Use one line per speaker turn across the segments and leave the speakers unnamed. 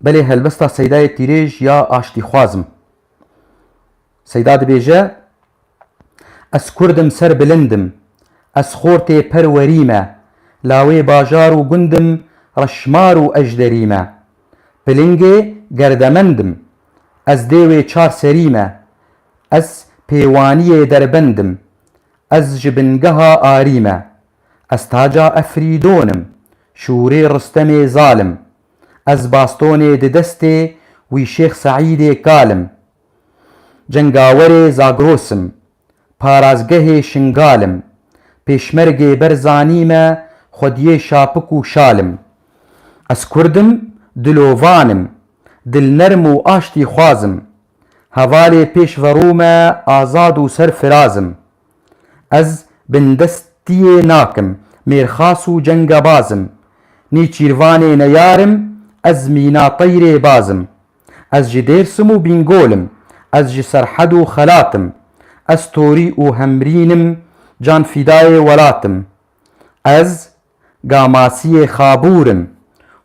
Belê helbesta Seydayê Tîrêj ya aştîxwaz im. Seyda dibêje, Ez kurd im ser bilind im. Ez xortê per werî me. Lawê bajar û gund im reşmar û ejderî me. Pilingê gerdemend im. Ez dêwê çar serî me. Ez pêwaniyê derbend im. Ez ji bingeha arî me. Ez taca Efrîdon im, şûrê Ristemê zal im, ez bastonê di destê wî Şêx Seîdê kal im, cengawerê Zagros im, parazgehê Şingal im, pêşmergê Berzanî me xwediyê şapik û şal im. Ez kurd im, dilovan im, dilnerm û aştîxwaz im, hevalê pêşverû me azad û serfiraz im. Ez bindestiyê nakim, mêrxas û cenga bazim. Nêçîrvanê neyar im, ez mîna teyrê bazim. Ez ji Dêrsim û Bîngol im, ez ji Serhed û Xelat im. Ez Torî û Hemrîn im, canfîdayê welat im. Ez Gamasiyê Xabûr im,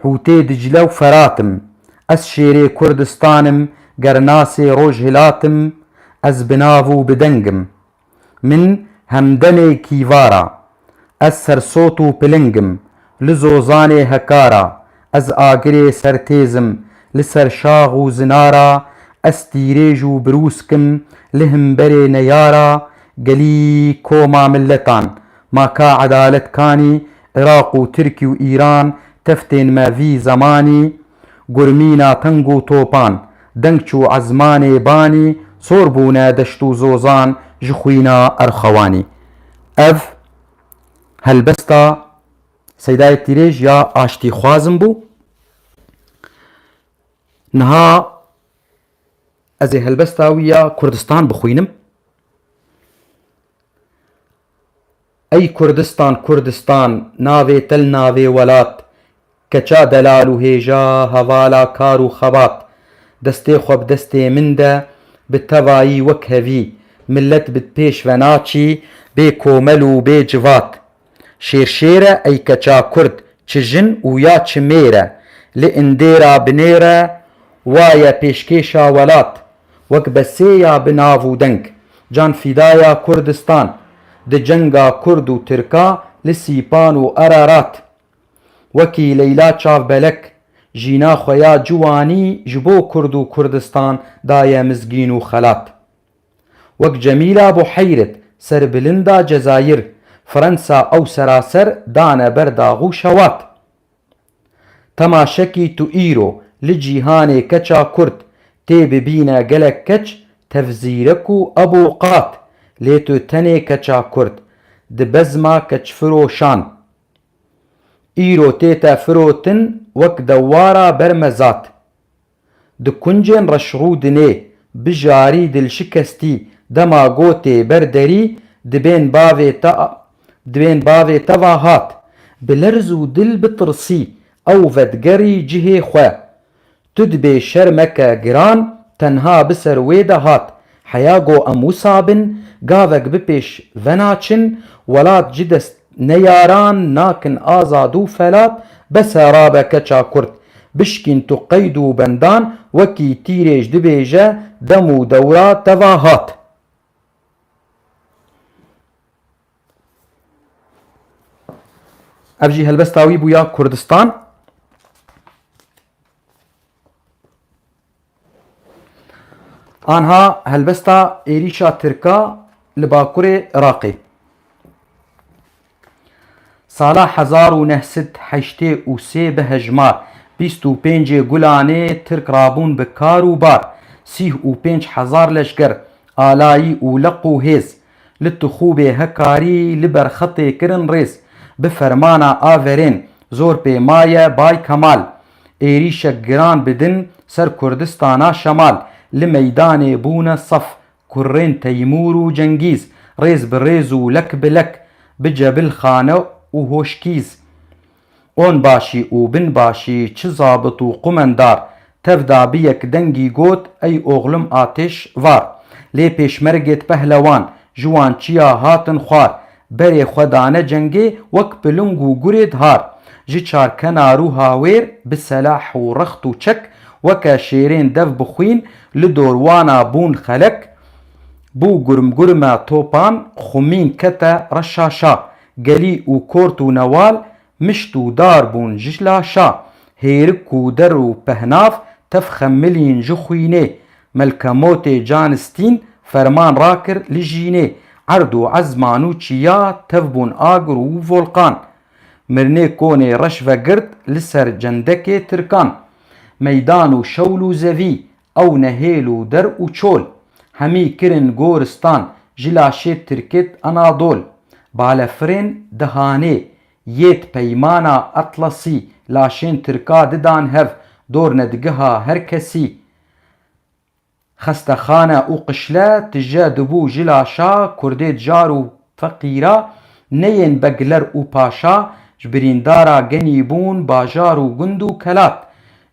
Hûtê Dicile û Ferat im, Ez şêrê Kurdistan im, gernasê Rojhilat im, Ez bi nav û bi deng im. Min hemdemê kîvar a, ez sersot û piling im, li zozanê hekar a, ez agirê sertêz im, li serşax û zinar a, ez tîrêj û birûsk im, li himberê neyar a, gelî koma miletan, Ma ka edalet kanî, Iraq û Tirkî û Îran teftên me vî zemanî, gurmîna teng û topan, deng çû ezmanê banî, sor bûne deşt û zozan ji xwîna erxewanî. Ev helbesta Seyda Yekdîrêj ya aştîxwazin bû. Niha ez ê helbesta wî ya Kurdistan bixwînim. Ey Kurdistan Kurdistan navê til navê welat Keça delal û hêja hevala kar û xebat Destê xwe bi destê min de bi tevayî wek hevî Milet bi pêş ve naçî bê komel û bê civat Şêr şêr e ey keça kurd çi jin û ya çi mêr e Li indêra binêr e wa ye pêşkêşa welat wek be sê ya bi nav û deng, Can Fidaya Kurdistan, di cenga Kurd û Tirka li Sîpan û Ararat, wekî Leyla Çavbelek, jîna xwe ya ciwanî ji bo Kurd û Kurdistan daye mizgîn û xelat. Wek Cemîla Buheyrit, serbilinda Cezayir, Frensa ew seraser dane ber daxû şewat. Temaşekî tu îro li cîhanê keça kurd tê bibîne gelek keç tevzîrek û abo qat lê tu tenê keça kurd di bezma keçfiroşan îro tê te firotin wek dewara bermezat. Di kuncên reşrûdinê bi jarî dilşikestî dema gotê ber derî dibên bavê te dibên bavê te va hat. Bi lerz û dil bitirsî ew vedigerî cihê xwe. Tu dibê şer meke giran tenha biser wê de hat Heya go em wisa bin, gavek bi pêş venaçin, welat ji dest neyaran nakin azad û felat, bese rabe keça kurd, bişkîn tu qeyd û bendan, wekî tîrêj dibêje dem û dewra teva hat. Ev jî helbesta wî bû ya Kurdistan. Anha helbesta êrîşa Tirka li bakurê Iraqê. Sala hezar û neh sed heştê û sê bi hejmar bîst û pêncê gulanê Tirk rabûn bi kar û bar, sîh û pênc hezar leşker, alayî û leq û hêz, li Tixûbê hekarî li ber xetê kirin rêz, bi fermana averên, zor pê maye Bay Kemal, êrîşek giran bi din ser Kurdistana Şemal, li meydanê bûne saf, kurrên Teymûr û Cengîz, rêz bi rêz û lek bi lek, bi cebilxane û hoşkîz. Onbaşî û binbaşî çi zabit û qumendar, tev da bi yek dengî got, Ey oxlim atêş var! Lê pêşmergêt pehlewan, ji wan çiya hatin xwar, Berê xwe dane cengê wek bi ling û gurê dihar. Ji çarkenar û hawêr bi selah û rext û çek weke şêrên dev bi xwîn li dor wana bûn xelek. Bû gurmgurme topan, xwimîn kete reşaşa. Gelî û kort û newal Mişt û dar bûn ji laşa. Hêrik kûder û pehnav tev xemilîn ji xwînê. Melke motê can stîn ferman rakir li jînê. Erd û ezman û çiya tev bûn agir û volqan. Mirnê konê reş vegirt li ser cendekê tirkan. Meydan û şewl û zevî Ew ne hêl û der û çol. Hemî kirin goristan, ji laşê tirkit Anadol. Balefirên di hanê, yêt peymana Atlasî, laşên tirka di dan hev, dornedgiha her kesî. Xestexane û qişle tije dibû ji laşa kurdê di jar û Feqîra neyên begler û paşa, ji birîndara genî bûn bajar û gund û kelat.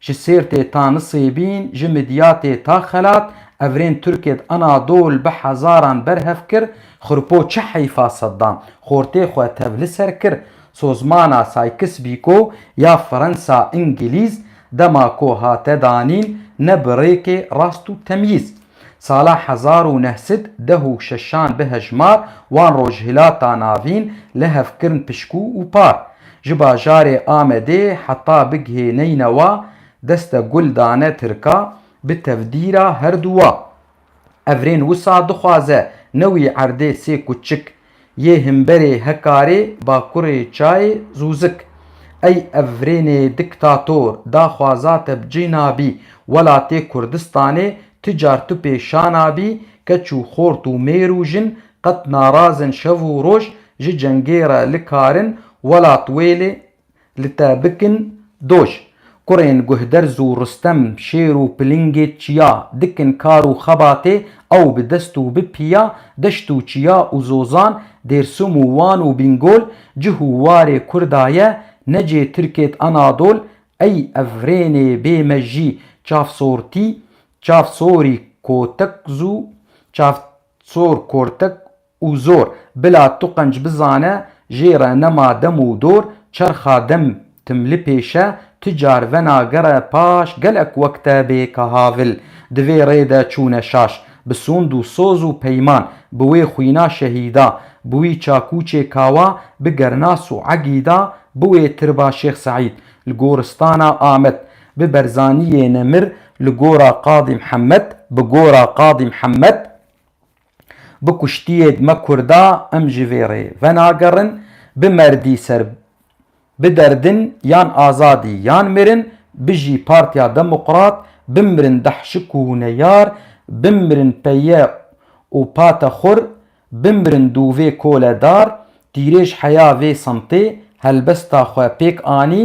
Ji Sêrtê ta Nisêbîn, ji Midyatê ta Xelat, evrên Tirkê di Anadol bi hezaran berhev kir, Xirpo çi heyfa Seddam, xortê xwe tev li ser kir. Sozmana Saykis Bîko ya Firensa Îngilîz, dema ku hate danîn, ne bi rêkê rast û temyîz. Sala hezar û neh sed deh û şeşan bihejmar wan Rojhilata Navîn lehev kirn pişkû û par. Ji bajarê Amedê heta bigihê Neynewa deste gul dane Tirka bi tevdîra herduwa. Evrên wisa dixwaze ne wî erdê sê kuçik Yê himberê Hekarê bakurê çayê Zûzik ey evrênê diktator daxwaza te bi cî nabî welatê Kurdistanê ti car tu pê şa nabî keç û xort û mêr û jin qet narazin şev û roj ji cengê re likarin welat wê lê Li te bikin doj. Kurên Guhderz û Rustem, Şêr û Pilingê çiya, dikin kar û xebatê, ew bi dest û bi piya, deşt û çiya û zozan, Dêrsim û Wan û Bingol, cih û warê Kurda ye, necê Tirkêt Anadol, ey ev rênê bê mejî, çavsortî, çavsorî kotekz û çavsor kortek, Û zor, bila tu qenc bizane, jê re nema dem û dor, çerxa dem tim li pêş e, tu car vena gere paş, gelek wek te bê ka havil, di vê rê de çûne şaş, bi sûnd û soz û peyman, bi wê xwîna şehîda, bi wî çakûçê kawa, bi gernas û egîda, bi wê tirba Şêx Seîd, li goristana Amed, bi Berzaniyê Nemir, li gora Qadî Mihemed, bi gora Qadî Mihemed, Bi kuştiyê dime kurda em ji vê rê venagerin, bi merdî ser bi derdin yan azadî yan mirin, bijî Partiya Demoqrat, bimrin dehşik û huneyar, bimrin peye û pate xur, bimrin dûvê kole dar, tîrêj heya vê semtê helbesta xwe pêk anî,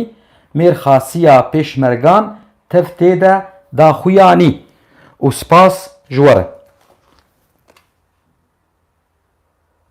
mêrxasiya pêşmergan Tev tê de da xuya nî û spas ji we re.